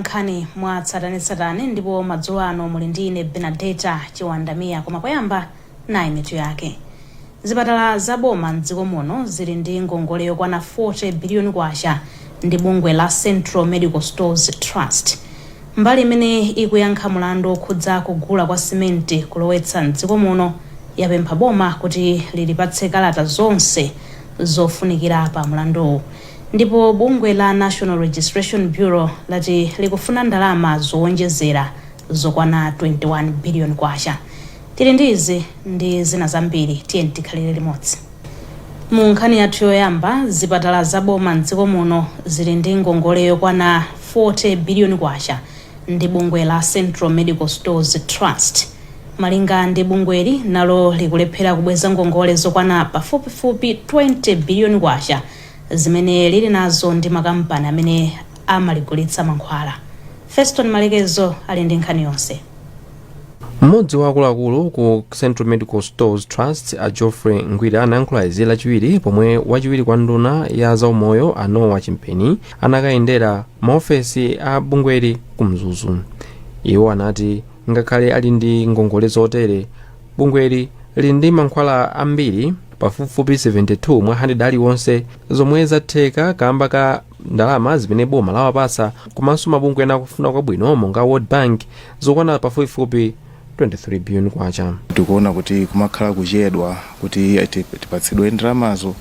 nkhani mwa tsatanetsatane ndipo madzulo ano muli ndi ine Benadeta Chiwandamia koma poyamba nayi mitu yake. Zipatala za boma m'dziko muno zili ndi ngongole yokwana 40 biliyoni kwacha ndi bungwe la Central Medical Stores Trust. Mbali imene ikuyankha mulandu wokhudza kugula kwa simenti kulowetsa m'dziko muno yapempha boma kuti lilipatse kalata zonse zofunikira pa mulanduwu. Ndipo bungwe la National Registration Bureau lati likufuna ndalama zowonjezera zokwana 21 biliyoni kwacha. Tili ndi izi ndi zina zambiri, tiyeni tikhalire limodzi. Mu nkhani yathu yoyamba, zipatala za boma m'dziko muno zili ndi ngongole yokwana 40 biliyoni kwacha ndi bungwe la Central Medical Stores Trust. Malinga ndi bungweli, nalo likulephera kubweza ngongole zokwana pafupifupi 20 biliyoni kwacha. zimene lili nazo ndi makampani amene amaligulitsa mankhwala. Feston Malekezo ali ndi nkhani yonse. Mmodzi wa akuluakulu ku Central Medical Stores Trust a Geoffrey Ngwira anayankhula izi lachiwiri pomwe wachiwiri kwa nduna ya zaumoyo a Noah Chimpeni anakayendera maofesi a bungweli ku Mzuzu. Iwo anati ngakhale ali ndi ngongole zotere bungweli lili ndi mankhwala ambiri pafupifupi 72 mwa 100 aliwonse zomwe zatheka kamba ka ndalama zimene boma lawapatsa komanso mabungwe ena akufuna kwabwino monga world bank zokwana pafupifupi 23 billion kwacha tikuona kuti kumakhala kuchedwa kuti ti- tipatsidwe ndalamazo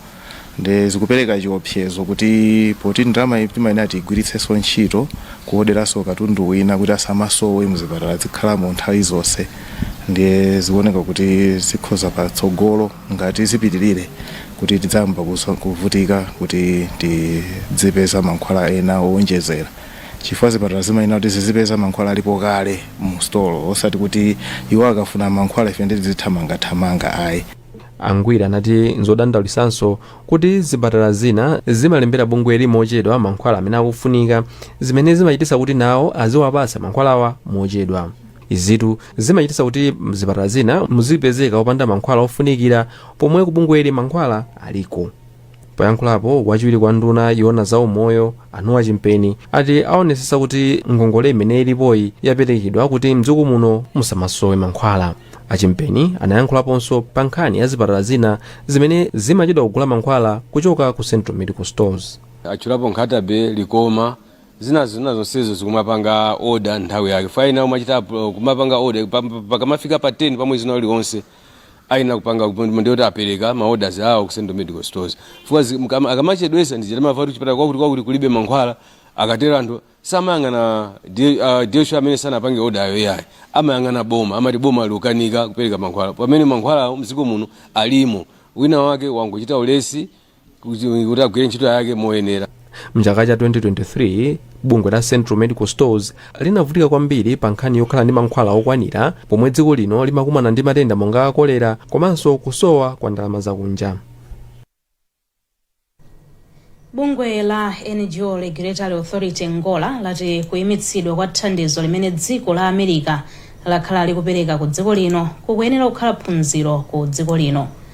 nde zikupereka chiopsezo kuti poti ndalama iyi timayenera tigwiritsenso ntchito kuoderanso katundu wina kuti asamasowe mzipatala zikhalamo nthawi zonse ndiye zikuoneka kuti zikhoza patsogolo ngati zipitirire kuti tidzayamba kusa- kuvutika kuti tizipeza mankhwala ena owonjezera chifukwa zipatala zimayenera kuti zizipeza mankhwala alipo kale mu store osati kuti iwo akafuna mankhwala ife nde tizithamangathamanga ayi A Ngwira anati nzodandaulitsanso kuti zipatala zina zimalembera bungweli mochedwa mankhwala amene akufunika zimene zimachititsa kuti nawo aziwapatsa mankhwalawa mochedwa. Izitu zimachititsa kuti mzipatala zina muzipezeka opanda mankhwala ofunikira pomwe ku bungweli mankhwala aliko. Poyankhulapo wachiwiri kwa nduna yoona za umoyo a Noah Chimpeni ati aonetsetsa kuti ngongole imene ilipoyi yaperekedwa kuti mdziko muno musamasowe mankhwala. A Chimpeni anayankhulaponso pa nkhani ya zipatala zina zimene zimachedwa kugula mankhwala kuchoka ku Central Medical Stores. atchulapo Nkhata-bay, Likoma, zinazo zina zonsezo zikumapanga order nthawi yake ayenera kumachita appro- kumapanga order pa- pa- pakamafika pa 10 pa mwezi wina uliwonse ayenera kupanga ndi kuti apereka ma orders awo ku central medical stores chifukwa zi- mkama- akamachedwesa ndiye timamvatu chipatala chakuti chakuti kulibe mankhwala akatero anthu samayang'ana D- ah, DHO amene sanapange oda ayo yayi amayang'ana boma amati boma likukanika kupereka mankhwala pamene mankhwala mdziko muno alimo wina wake wangochita ulesi kuti agwire ntchito yake moyenera mchaka cha 2023 bungwe la central medical stores linavutika kwambiri pa nkhani yokhala ndi mankhwala okwanira pomwe dziko lino limakumana ndi matenda monga kolera komanso kusowa kwa ndalama zakunja bungwe la ngo regulatory authority ngora lati kuyimitsidwa kwa thandizo limene dziko la america lakhala likupereka ku dziko lino kukuyenera kukhala phunziro ku dziko lino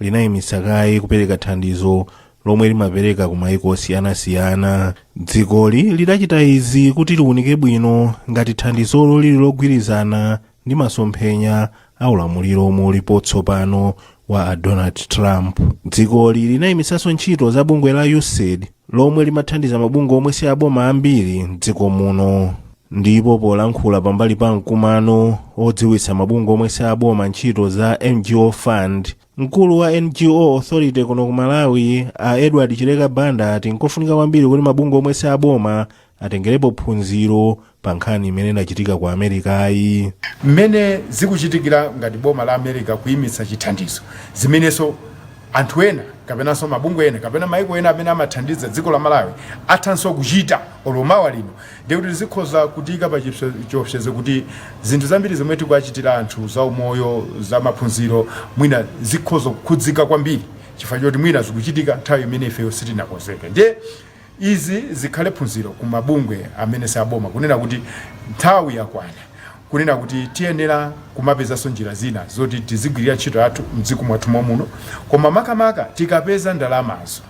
linayimitsa kaye kupereka thandizo lomwe limapereka ku maiko osiyanasiyana dzikoli lidachita izi kuti liwunike bwino ngati thandizolo lili logwirizana ndi masomphenya a ulamuliro omwe ulipo tsopano wa a donald trump dzikoli linayimitsanso ntchito za bungwe la usaid lomwe limathandiza mabungwe omwe si aboma ambiri mdziko muno ndipo polankhula pambali pa mkumano odziwitsa mabungwe omwe si aboma ntchito za ngo fund mkulu wa ngo authority kuno ku malawi a edward chileka banda ati nkofunika kwambiri kuti mabungwe omwe si aboma atengerepo phunziro pa nkhani imene inachitika ku amerikayi mmene zikuchitikira ngati boma la america kuyimitsa chithandizo zimenenso anthu ena kapenanso mabungwe ena kapena maiko ena amene amathandiza dziko la malawi athanso kuchita olo mawa lino ndiye kuti zikhoza kutiyika pa chipse- chiopsezo kuti zinthu zambiri zomwe tikuwachitira anthu za umoyo za maphunziro mwina zikhoza kukhudzika kwambiri chifukwa choti mwina zikuchitika nthawi imene ifeyo sitinakonzeke ndiye Izi zikhale phunziro ku mabungwe amene si aboma kunena kuti nthawi yakwana kunena kuti tiyenera kumapezanso njira zina zoti tizigwilira ntchito yathu mdziko mwathu momuno koma makamaka tikapeza ndalamazo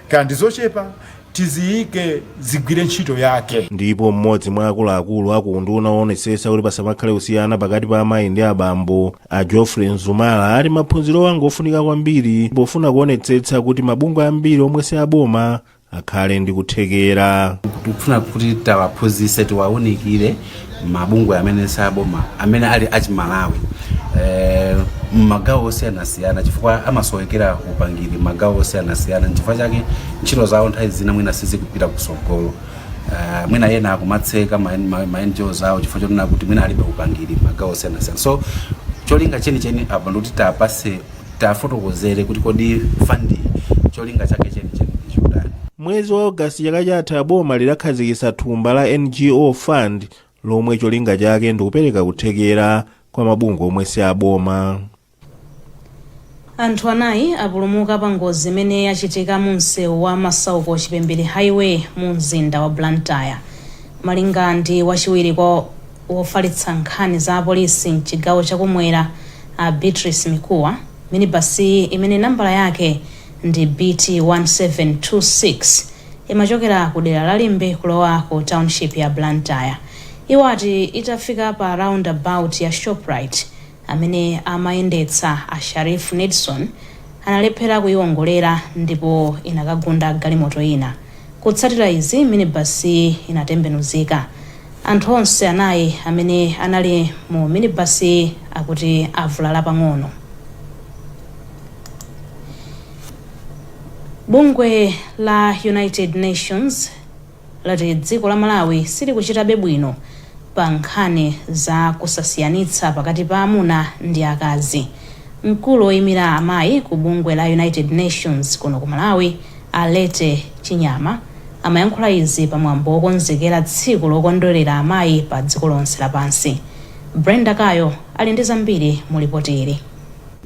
kaya ndi zochepa tiziyike zigwire ntchito yake. Ndipo m'modzi mwa akuluakulu aku unduna owonetsetsa kuti pasamakhale kusiyana pakati pa amayi ndi abambo, a geoffrey mzumala ati maphunzirowa ngofunika kwambiri pofuna kuonetsetsa kuti mabungwe ambiri omwe si aboma akhale ndi kuthekera tikufuna kuti tiwaphunzitse tiwaunikire mabungwe amene saboma amene ali achimalawi eh, mmagawo osiyanasiyana chifukwa amasowekera upangiri mmagawo osiyanasiyana nchifukwa chake ntchito zawo nthawi zina mwina sizikupita kusogolo Uh, mwina ena akumatseka ma, ma, ma NGOs awo chifukwa chonena kuti mwina alibe upangiri mmagawo osiyanasiyana so cholinga chenicheni apa ndikuti tiwapatse tiwafotokozere kuti kodi fund iyi cholinga chake chenicheni ndi chotani mwezi wa ogasiti chaka chatha boma lidakhazikitsa thumba la ngo fund lomwe cholinga chake ndikupereka kuthekera kwa mabungwe omwe si aboma Anthu anayi apulumuka pa ngozi imene yachitika mu msewu wa Masauko Chipembere Highway mu mzinda wa Blantyre. Malinga ndi wachiwiri kwa wofalitsa nkhani za apolisi m'chigawo cha kumwera a Beatrice Mikuwa, minibasiyi imene nambala yake ndi BT 1726 imachokera ku dera la Limbe kulowa ku township ya Blantyre. Iwo ati itafika pa roundabout ya Shoprite, Amene amayendetsa a Sharif Nedson analephera kuyiwongolera ndipo inakagunda galimoto ina. Kutsatira izi, minibus-yi inatembenuzika. Anthu onse anayi amene anali mu minibus-yi akuti avulala pang'ono. Bungwe la United Nations. lati dziko la Malawi silikuchitabe bwino pa nkhani za kusasiyanitsa pakati pa amuna ndi akazi. Mkulu oyimira amayi ku bungwe la United Nations kuno ku Malawi, a Lette Chinyama, amayankhula izi pa mwambo wokonzekera tsiku lokondwelera amayi pa dziko lonse lapansi. Brenda Kayo ali ndi zambiri mu lipoti ili.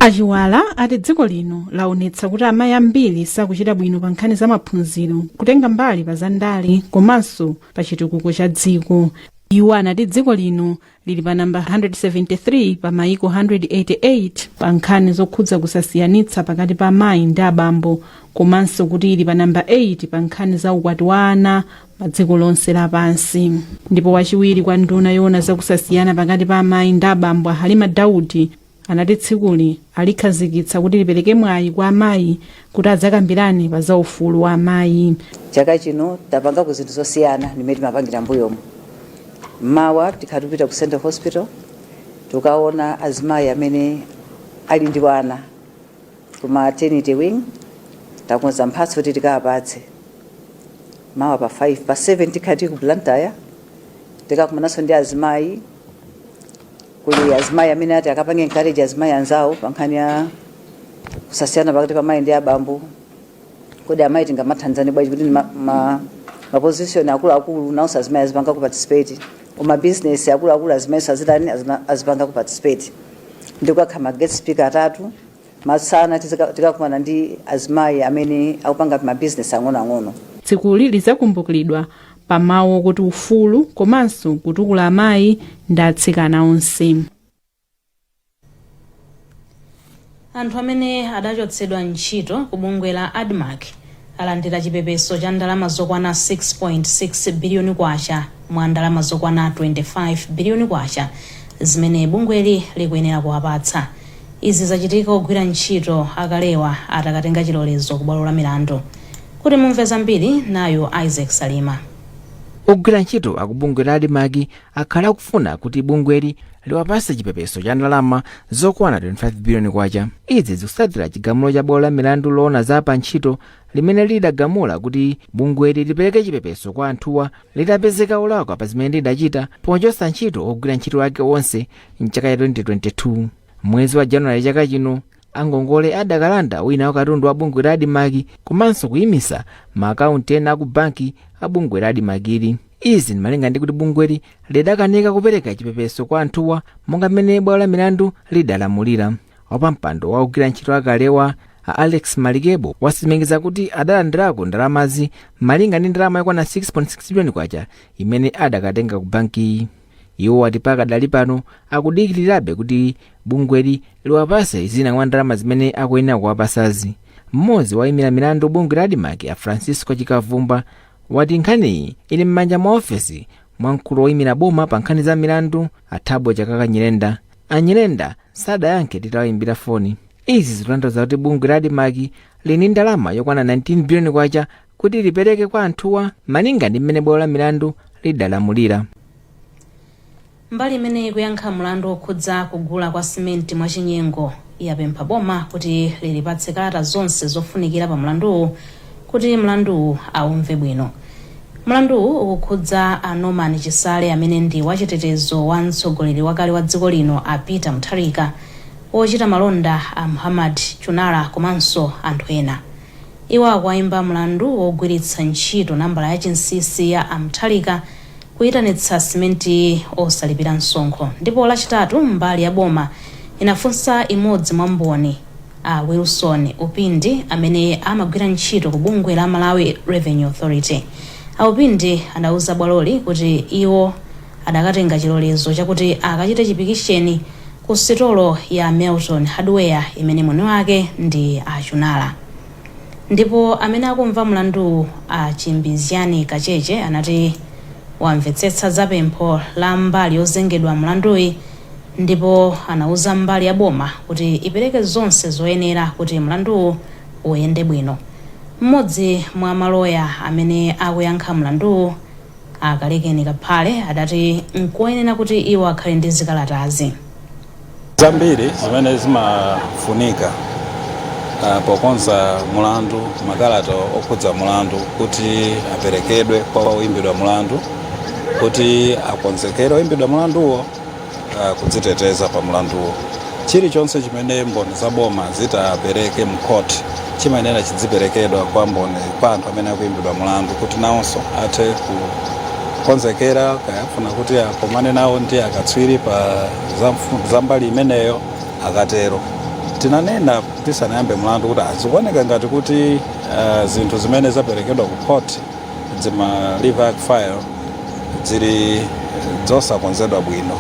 A Chiwala ati dziko lino laonetsa kuti amayi ambiri sakuchita bwino pa nkhani za maphunziro, kutenga mbali pa zandale komanso pa chitukuko cha dziko. Iwo anati dziko lino lili pa namba 173 pa mayiko 188 pa nkhani zokhudza kusasiyanitsa pakati pa amayi ndi abambo komanso kuti ili pa namba 8 pa nkhani za ukwati wa ana pa dziko lonse lapansi ndipo wachiwiri kwa nduna yoona zakusasiyana pakati pa amayi ndi abambo a halima daudi anati tsikuli alikhazikitsa kuti lipereke mwayi kwa amayi kuti adzakambirane pa za ufulu wa amayi chaka chino tapangako zinthu zosiyana ndimene timapangira mbuyomo mawa tikhala tikupita ku central hospital tukaona azimayi amene ali ndi wana ku maternity wing takonza mphatso kuti tikawapatse mawa pa 5 pa 7 tikhala tili ku blantyre tikakumananso ndi azimayi kuli azimayi amene ati akapange encourage azimayi anzawo pa nkhani ya kusasiyana pakati pa amayi ndi abambo kodi amayi tingamathandizane bwanji kuti ma, ma, ma position akuluakulu nawonso azimayi azipangako participate ku ma business akuluakulu azimayi azitani azipangako participate nde kukakhala ma guest speaker atatu masana tikakumana ndi azimayi amene akupanga mabizinesi ang'onoang'ono tsikuli lidzakumbukiridwa pa mawu okuti ufulu komanso kutukula amayi ndi atsikana onse anthu amene adachotsedwa ntchito ku bungwe la admarc alandira chipepeso cha ndalama zokwana K6.6 biliyoni mwa ndalama zokwana K25 biliyoni zimene bungweli likuyenera kuwapatsa. Izi zachitika ogwira ntchito akalewa atakatenga chilolezo kubwalo la milandu. Kuti mumve zambiri, nayu Isaac Salima. Ogwira ntchito aku bungwe la Admarc akhala akufuna kuti bungweli liwapase chipepeso cha ndalama zokwana 25 biliyoni kwacha izi zikutsatira chigamulo cha bwalo la milandu loona za pa ntchito limene lidagamula kuti bungweli lipereke chipepeso kwa anthuwa litapezeka olakwa pa zimene lidachita pochotsa ntchito ogwira ntchito ake onse mchaka cha 2022 mwezi wa januwale chaka chino angongole adakalanda wina wa katundu wa bungwe la admarc komanso kuyimisa ma akaunti ena aku banki a bungwe la admarc-li izi ndi malinga ndi kuti bungweli lidakanika kupereka chipepeso kwa anthuwa monga mmene bwalo la milandu lidalamulira wapampando wa ogwira ntchito akalewa a alex malikebo wasimikiza kuti adalandirako ndalamazi malinga ndi ndalama yokwana 6.6 biliyoni kwacha imene adakatenga ku bankiyi iwo ati pakadali pano akudikirirabe kuti bungweli liwapase zina mwa ndalama zimene akuyenera kuwapasazi mmodzi woimira milandu bungwe la admarc a francisco chikabvumbwa wati nkhaniyi ili m'manja mwa ofesi mwa mkulu woimira boma pa nkhani za milandu a thabo chakaka nyirenda a nyirenda sadayankhe titawayimbira foni izi zikutanthauza kuti bungwe la admarc lili ndi ndalama yokwana 19 biliyoni kwacha kuti lipereke kwa anthuwa malinga ndi mmene bwalo la milandu lidalamulira mbali imene ikuyankha mlandu wokhudza kugula kwa simenti mwachinyengo yapempha boma kuti lilipatse kalata zonse zofunikira pa mlanduwu kuti mlanduwu aumve bwino mlanduwu ukukhudza a norman chisale amene ndi wachitetezo wa mtsogoleri wakale wa dziko lino a peter mutharika wochita malonda a muhammad chunara komanso anthu ena Iwo akuwaimba mlandu wogwiritsa ntchito nambala ya chinsinsi ya a Mutharika kuitanitsa simenti osalipira msonkho ndipo Lachitatu mbali ya boma inafunsa imodzi mwa mboni, a Wilson Upindi amene amagwira ntchito ku bungwe la Malawi Revenue Authority. A Upindi adauza bwaloli kuti iwo. adakatenga chilolezo chakuti akachite chipikisheni ku sitolo ya Melton Hardware imene mwini wake ndi a Chunara. Ndipo amene akumva mlanduwu a Chimbizgani Kacheche anati wamvetsetsa za pempho la mbali yozengedwa mlanduyi ndipo anauza mbali ya boma kuti ipereke zonse zoyenera kuti mlanduwu uyende bwino. M'modzi mwa maloya amene akuyankha mlanduwu, A Kalekeni Kaphale adati nkoyenera kuti iwo akhale ndi zikalatazi. zambiri zimene zimafunika ah, pokonza mulandu makalata okhudza mulandu kuti aperekedwe kwa oyimbidwa mulandu kuti akonzekere oyimbidwa mulanduwo uh, kudziteteza pa mlanduwo chilichonse chimene mboni za boma zitapereke m'khoti chimayenera chidziperekedwa kwa mboni kwa anthu amene akuimbidwa mlandu kuti nawonso athe kukonzekera kaya afuna kuti akomane nawo ndi akatswiri pa za mfu- za mbali imeneyo akatero tinanena tisanayambe mlandu kuti zikuoneka ngati kuti uh, zinthu zimene zaperekedwa ku khoti dzima lever arch file dzili dzosakonzedwa bwino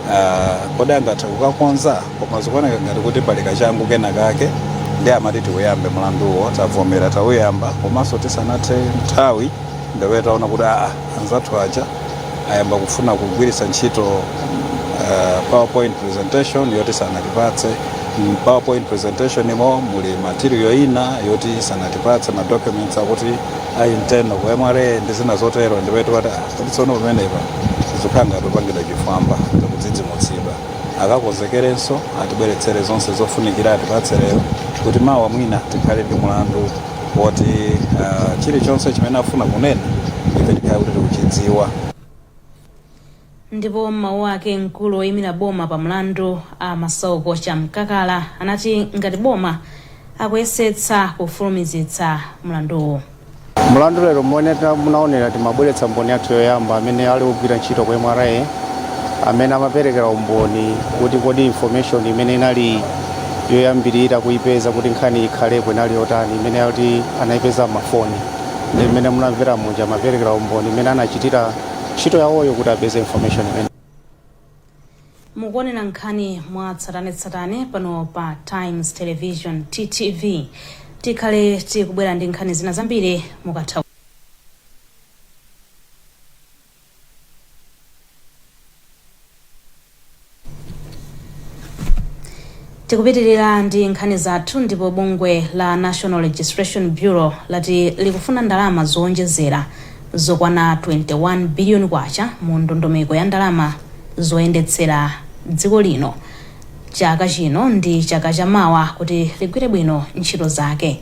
uh, kodi angathe kukakonza koma zikuoneka ngati kuti pali kachangu kena kake ndiye amati tiuyambe mlanduwo tavomera tauyamba komanso tisanathe nthawi ndipo taona kuti aa anzathu aja ayamba kufuna kugwiritsa ntchito uh, powerpoint presentation yoti sanatipatse mm, powerpoint presentation imo muli material ina yoti sanatipatse ma documents akuti a internal ku mra ndi zina zotero ndipo tinati kuti tsono pamenepa zikukhala ngati tapangidwa chifwamba tikudzidzimutsidwa akakonzekerenso atibweretsere zonse zofunikira atipatse lero kuti mawa mwina tikhale ndi mulandu woti uh, chilichonse chimene afuna kunena ife tikhale kuti tikuchidziwa ndipo m'mawu ake mkulu woyimira boma pa mlandu a masauko chamkakala anati ngati boma akuyesetsa kufulumizitsa mlanduwu mlandu lero mmene munaonera timabweretsa mboni yathu yoyamba amene ali ogwira ntchito ku mra amene amaperekera umboni kuti kodi information imene inali yoyambirira kuipeza kuti nkhani ikhalepo inali yotani imene yoti anaipeza m'mafoni ndi mmene munamvera muja amaperekera umboni mmene anachitira ntchito yawoyo kuti apeze information imene mukuonera nkhani mwa tsatanetsatane pano pa times television ttv tikhale tikubwera ndi nkhani zina zambiri mukatha tikupitirira ndi nkhani zathu ndipo bungwe la national registration bureau lati likufuna ndalama zowonjezera zokwana 21 biliyoni kwacha mu ndondomeko ya ndalama zoyendetsera dziko lino chaka chino ndi chaka cha mawa kuti ligwire bwino ntchito zake.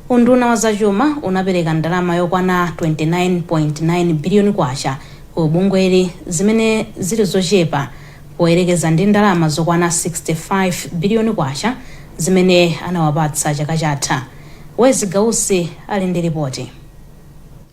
Unduna wa zachuma unapereka ndalama yokwana K29.9 biliyoni ku bungweli zimene zili zochepa poyerekeza ndi ndalama zokwana K65 biliyoni zimene anawapatsa chaka chatha. Wezi Gausi ali ndi lipoti.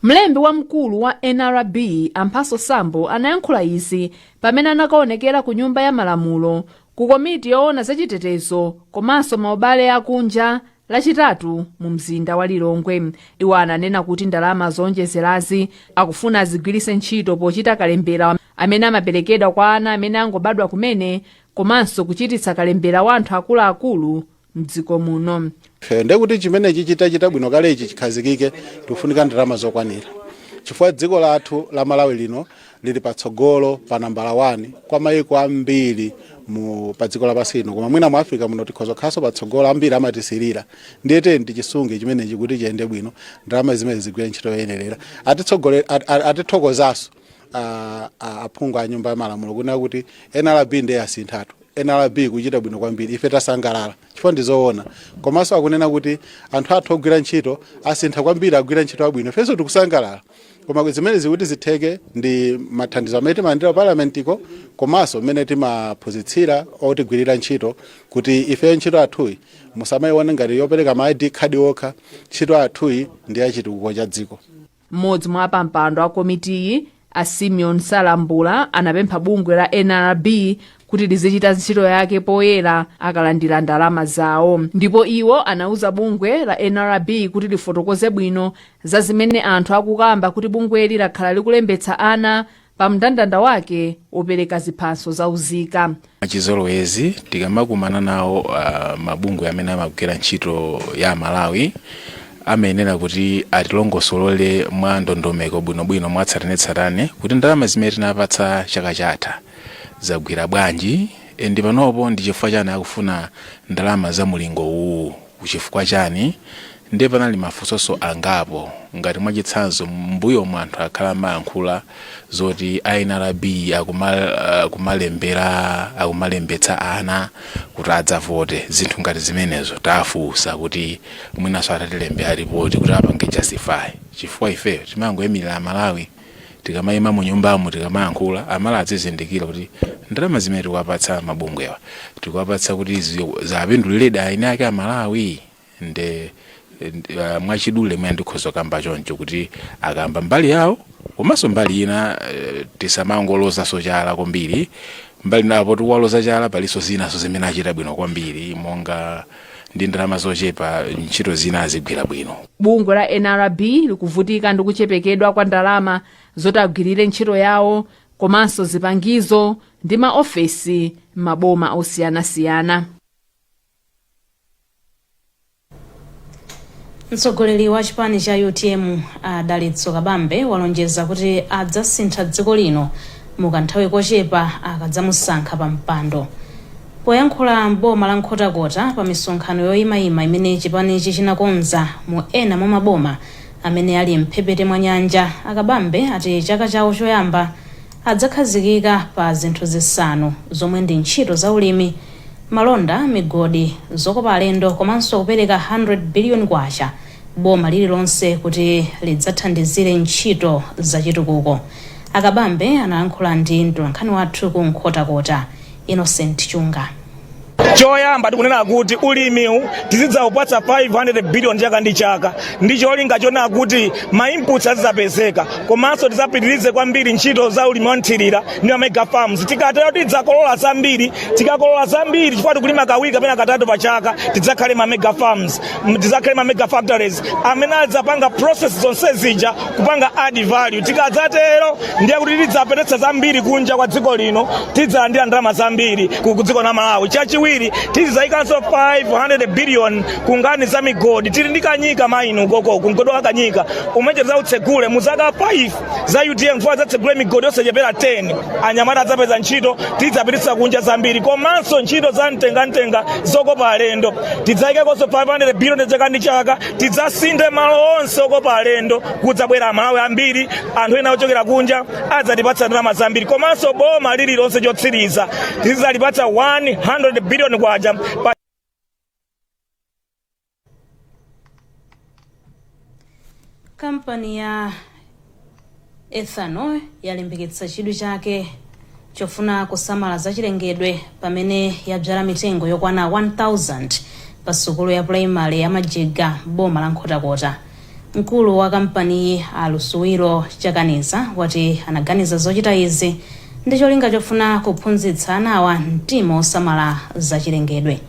Mlembi wamkulu wa nrb a Mphatso Sambo anayankhula izi pamene anakaonekera ku nyumba ya malamulo ku komiti yoona za chitetezo komanso maubale akunja lachitatu mu mzinda wa lilongwe iwo ananena kuti ndalama zoonjezerazi akufuna azigwiritse ntchito pochita kalembera amene amaperekedwa kwa ana amene angobadwa kumene komanso kuchititsa kalembera wa anthu akuluakulu mdziko muno Eh, ndiye kuti chimenechi chitachita bwino kale ichi chikhazikike tikufunika ndalama zokwanira chifukwa dziko lathu la malawi lino lili patsogolo pa nambala 1 kwa mayiko ambiri mu pa dziko lapansi lino koma mwina mu africa muno tikhoza kukhalanso patsogolo ambiri amatisirira ndiye tiyeni tichisunge chimenechi kuti chiyende bwino ndalama zimene zigwire ntchito yoyenerera atithoko- at- at- atithokozanso ah, ah, aphungu a nyumba ya malamulo kunena kuti nrb ndiye asinthatu Nrb ikuchita bwino kwambiri ife tasangalala chifukwa ndi zoona komanso akunena kuti anthu athu ogwira ntchito asintha kwambiri agwira ntchito abwino ifenso tikusangalala koma zimenezi kuti zitheke ndi mathandizo amene timalandira parliament-ko komanso mmene timaphunzitsira otigwirira ntchito kuti ife ntchito yathuyi musamayione ngati yopereka ma id card okha ntchito yathuyi ndi yachitukuko cha dziko M'modzi mwa apampando a komitiyi, a Simeon Salambula, anapempha bungwe la nrb kuti lizichita ntchito yake poyera akalandira ndalama zawo ndipo iwo anauza bungwe la nrb kuti lifotokoze bwino za zimene anthu akukamba kuti bungweli lakhala likulembetsa ana pa mndandanda wake wopereka ziphaso za unzika mwachizolowezi tikamakumana nawo uh, mabungwe amene amagwira ntchito ya amalawi amayenera kuti atilongosolole mwa ndondomeko bwinobwino mwatsatanetsatane kuti ndalama zimene tinapatsa chaka chatha zagwira bwanji and panopo ndi chifukwa chani akufuna ndalama za mulingo uwu chifukwa chani Ndiye panali mafunsonso angapo ngati mwachitsanzo mmbuyomu anthu akhala amayankhula zoti a nrb akumalembera akumalembetsa ana kuti adzavote zinthu ngati zimenezo tafunsa kuti mwinanso atilembere report kuti apange justify chifukwa ifeyo timangoimilira amalawi tikamaima munyumbamu tikamayankhula amalawi azizindikira kuti ndalama zimene tikuwapatsa mabungwewa tikuwapatsa kuti ziwapinduliredi eni ake amalawi. nde uh, mwachidule mwina ndikhoza kukamba choncho kuti akamba mbali yawo komanso mbali ina eh, tisamangolozanso chala kwambiri mbali inapo tikuwaloza chala palinso zinanso zimene achita bwino kwambiri monga ndi ndalama zochepa ntchito zina azigwira bwino bungwe la nrb likuvutika ndi kuchepekedwa kwa ndalama zoti agwirire ntchito yawo komanso zipangizo ndi maofesi m'maboma osiyanasiyana mtsogoleri wa chipani cha utm a dalitso kabambe walonjeza kuti adzasintha dziko lino mukanthawi kochepa akadzamusankha pa mpando poyankhula m'boma la nkhotakota pa misonkhano yoyimayima imene chipanichi chinakonza mu ena mwa maboma amene ali mphepete mwa nyanja a kabambe ati chaka chawo choyamba adzakhazikika pa zinthu zisanu zomwe ndi ntchito za ulimi, malonda, migodi, zokopa alendo komanso kupereka K100 biliyoni boma lililonse kuti lidzathandizire ntchito zachitukuko. A Kabambe analankhula ndi mtolankhani wathu ku Nkhotakota, Innocent Chunga. choyamba tikunena kuti ulimiwu tizidzaupatsa 500 billion chaka ndi chaka ndi cholinga chonena kuti ma inputs azidzapezeka komanso tidzapitirize kwambiri ntchito za ulimi wa nthirira ndi ma mega farms tikatero tidzakolola zambiri tikakolola zambiri chifukwa tikulima kawiri kapena katatu pa chaka tidzakhale ndi ma mega farms tidzakhale ndi ma mega factories amene adzapanga process zonse zija kupanga add value tikadzatero ndiye kuti tidzapititsa zambiri kunja kwa dziko lino tidzalandira ndalama zambiri ku ku dziko la malawi chachiwiri tizizayikanso 500 billion ku nkhani za migodi tili ndi kanyika mine ukoko ku mgodi wa kanyika umene tidzautsegule mu zaka 5 za utm kuti tidzatsegule migodi yosachepera 10 anyamata adzapeza ntchito tidzapititsa kunja zambiri komanso ntchito za mtengamtenga zokopa alendo tidzayikanso 500 billion chaka ndi chaka tidzasinthe malo onse okopa alendo kudzabwera amalawi ambiri anthu ena ochokera kunja adzatipatsa ndalama zambiri komanso boma lililonse chotsiriza tizidzalipatsa 100 billion kwacha kampani ya ethanol yalimbikitsa chidwi chake chofuna kusamala zachilengedwe pamene yabzala mitengo yokwana 1000 pa sukulu ya pulaimale ya majiga m'boma la nkhotakota mkulu wa kampaniyi a lusubilo chakaniza wati anaganiza zochita izi ndi cholinga chofuna kuphunzitsa anawa mtima osamala zachilengedwe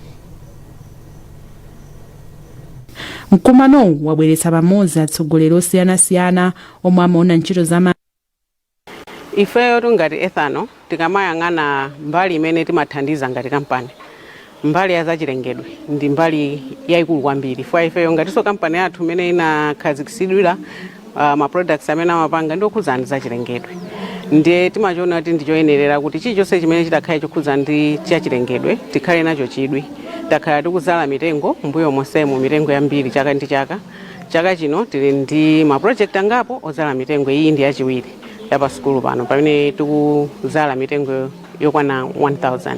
Mkumanowu wabweretsa pamodzi atsogoleri osiyanasiyana omwe amaona ntchito za ma. Ifeyotu ngati Ethanol tikamayang'ana mbali imene timathandiza ngati kampani, mbali ya zachilengedwe ndi mbali yaikulu kwambiri chifukwa ifeyo ngatinso kampani yathu imene inakhazikitsidwira uh, ma products amene amapanga ndi okhudzana ndi zachilengedwe ndiye timachiona kuti ndichoyenerera kuti chilichonse chimene chitakhale chokhudzana ndi chachilengedwe tikhale nacho chidwi takhala tikuzala mitengo mbuyo monsemo mitengo yambiri chaka ndi chaka chaka chino tili ndi ma project angapo ozala mitengo iyi ndi yachiwiri ya pa sukulu pano pamene tikuzala mitengo yokwana 1000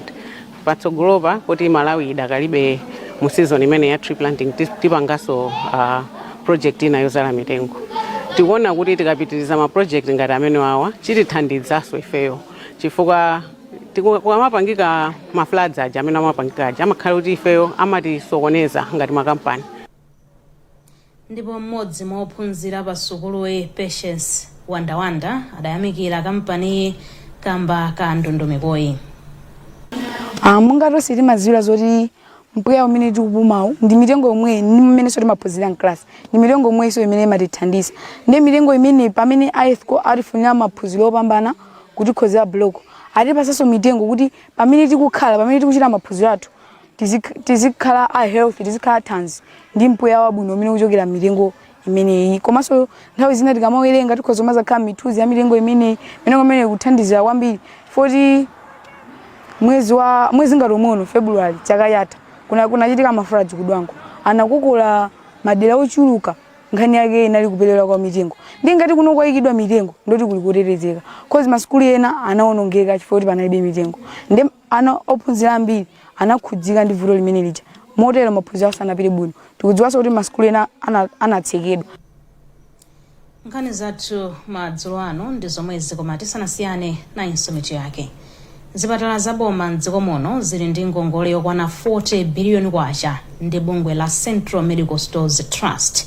patsogolopa poti Malawi idakalibe mu season imene ya tree planting tis- tipanganso uh, project ina yozala mitengo tikuona kuti tikapitiriza ma project ngati amene wawa chitithandizanso ifeyo chifukwa tiku- kukamapangika ma floods aja amene amapangika aja amakhala kuti ifeyo amatisokoneza ngati makampani Ndipo m'modzi mwa ophunzira pa sukuluyi Patience Wandawanda adayamikira kampaniyi kamba ka ndondomekoyi. Ah, monga tonse timadziwira zoti mpweya umene tikupumawu ndi mitengo yomweyi ndi mmenenso timaphunzira mclass ndi mitengo yomweyinso imene imatithandiza ndi mitengo imene pamene a EthCo atifunira maphunziro opambana kutikonzera block atipatsanso mitengo kuti pamene tikukhala pamene tikuchita maphunziro athu tizik- tizikhala a health tizikhala athanzi ndi mpweya wabwino umene ukuchokera mitengo imeneyi komanso nthawi zina tikamawerenga tikhoza mazakhala mithunzi ya mitengo imeneyi mitengo imeneyi kuthandizira kwambiri poti mwezi wa mwezi ngati umono february chaka chatha kuna kunachitika ma floods ku Dwangwa anakukula madera ochuluka nkhani yake inali kuperewera kwa mitengo ndi ngati kuno kwayikidwa mitengo ndoti kuli kutetezeka cause masukulu ena anawonongeka chifukwa kuti panalibe mitengo ndi Ana ophunzira ambiri anakhudzika ndi vuto limene lija motero maphunziro awo sanapite bwino. Tikudziwanso kuti masukulu ena anatsekedwa. Nkhani zathu madzulo ano ndi zomwezi koma tisanasiyane, nayinso mitu yake. Zipatala za boma m'dziko muno zili ndi ngongole yokwana K40 biliyoni ndi bungwe la Central Medical Stores Trust.